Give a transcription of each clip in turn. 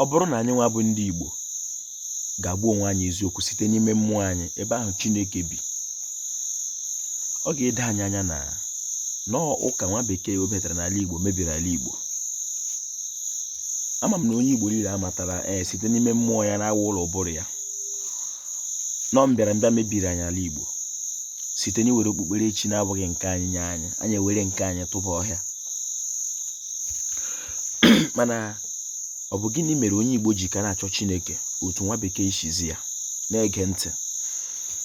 Ọ bụrụ na anyị nwa bụ ndị Igbo ga-agwa onwe anyị eziokwu site n'ime mmụọ anyị ebe ahụ Chineke bi ọ ga-edo anyị anya na ụnọ ụka nwa bekee webatara n'ala Igbo mebiri ala Igbo ama m na onye Igbo niile amatara ee eh, site n'ime mmụọ ya nakwa ụlọ ụbụrụ ya na mbịara mbịa mebiri anyị ala Igbo site n'iwere okpukperechi na-abụghị nke anyị nye anyị anyị ewere nke anyị tụba ọhịa mana ọ bụ gịnị mere onye Igbo ji ka na-achọ Chineke otu nwa bekee si zi ya na-ege ntị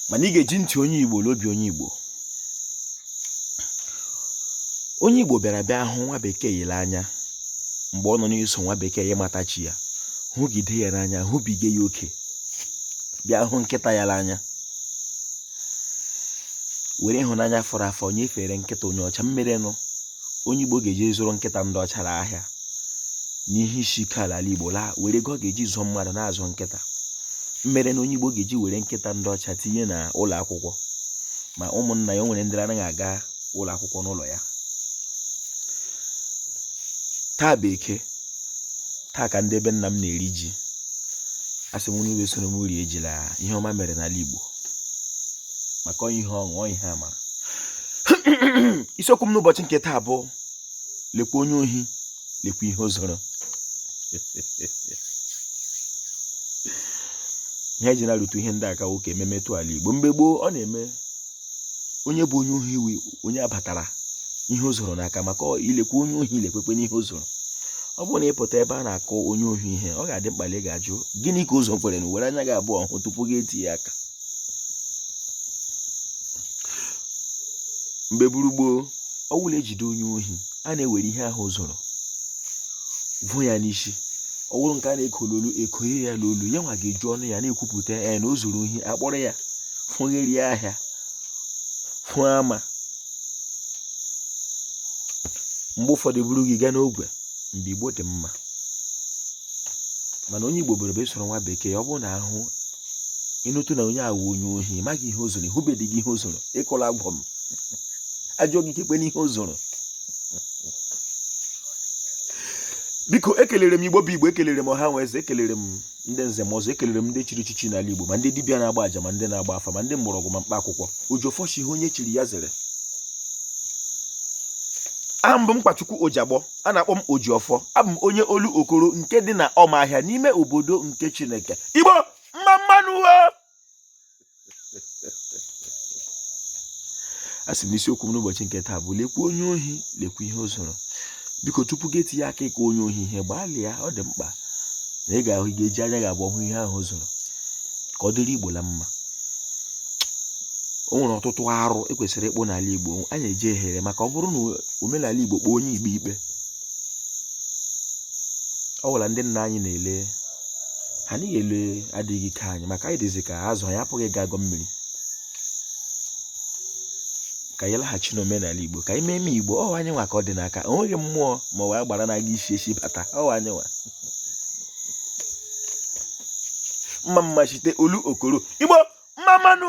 mana ị ga-eji ntị onye Igbo na obi onye Igbo onye Igbo bịara bịa hụ nwa bekee n'anya mgbe ọ nọ n'iso nwa bekee ya matachi ya hụgide ya n'anya hụbiga ya oke bịa hụ nkịta ya n'anya were ịhụnanya fọrọ afọ nyefere nkịta onye ọcha mmere na onye igbo ga-eji zụrụ nkịta ndị ọcha n'ahịa n'ihe isi ike n'ala igbo laa were ego ọ ga-eji zụọ mmadụ na-azụ nkịta mmere na onye igbo ga-eji were nkịta ndị ọcha tinye na ụlọ akwụkwọ ma ụmụnna ya o nwere ndị anaghị aga ụlọ akwụkwọ n'ụlọ ya taa bụ eke taa ka ndị be nna m na-eri ji asị m unu wee soro m rie ji na ihe ọma mere n'ala Igbo maka onye ihe ọṅụ onye ihe amara isiokwu m n'ụbọchị nke taa bụ lekwa onye ohi lekwa ihe o zuru ihe eji na-arụtụ ihe ndị aka nwoke ememe tụ ala igbo mgbe gboo ọ na-eme onye bụ onye ohi iwe onye abatara ihe o zuru n'aka maka lekwa onye ohi lekwakwanụ ihe o zuru ọ bụrụ na ị pụta ebe a na-akọ onye ohi ihe ọ ga-adị mkpa na ị ga-ajụ gịnị ka o zuru kwanụ were anya gị abụọ hụ tupu gị etinye aka mgbe buru gboo ọ bụrụ na ejide onye ohi a na-ewere ihe ahụ o zuru vo ya n'isi ọ bụrụ nke a na-eko n'olu ekoye ya n'olu ya nwa ga-eji ọnụ ya na-ekwupụta ya na o zuru ohi akpọrọ ya fụgharịa ahịa fụọ ama mgbe ụfọdụ buru ya gaa n'ogwe mgbe igbo dị mma mana onye igbo buru obi soro nwa bekee ọ bụrụ na ahụ ị nụtụ na onye a wụ onye ohi ị maghị ihe o zuru ị hụbeghị ihe o zuru ị kọọla aga m ajụ gị kekwanụ ihe o zuru biko ekelere m igbo bụ igbo ekelere m ọha na eze ekelere m ndị nze na ọzọ ekelere m ndị chiri echichi n'ala igbo ma ndị dibịa na-agba aja ma ndị na-agba afa ma ndị mgbọrọgwụ na mkpa akwụkwọ oji ọfọ sị ihe onye chiri ya zere aha m bụ mkpachukwu ojagbọ a na-akpọ m Ojiọfọ abụ m onye Olokoro nke dị na Ọmahịa n'ime obodo nke Chineke Igbo mma mma nụ asị m isiokwu m n'ụbọchị nke taa bụ lekwa onye ohi lekwa ihe o zuru biko tupu gị etinye aka ịkụ onye ohi ihe gbalịa ọ dị mkpa na ị ga-eji anya gị abụọ hụ ihe ahụ o zuru ka ọ dịrị Igbo na mma o nwere ọtụtụ arụ e kwesịrị ịkpụ n'ala Igbo anyị jehiere maka ọ bụrụ na omenala Igbo kpọọ onye Igbo ikpe ọ gwụla ndị nna anyị na-ele ha anyị ele adịghị ike anyị maka anyị dịzi ka azụ anyị apụghị ịgọ agọ mmiri ka anyị laghachi n'omenala Igbo ka anyị mee eme Igbo ọ wụ anyị nwa ka ọ dị n'aka o nweghị mmụọ ma ọ wụ agbara na-aga isi ezi bata ọ wụ anyị nwa mma mma site Olokoro Igbo mma mma nụ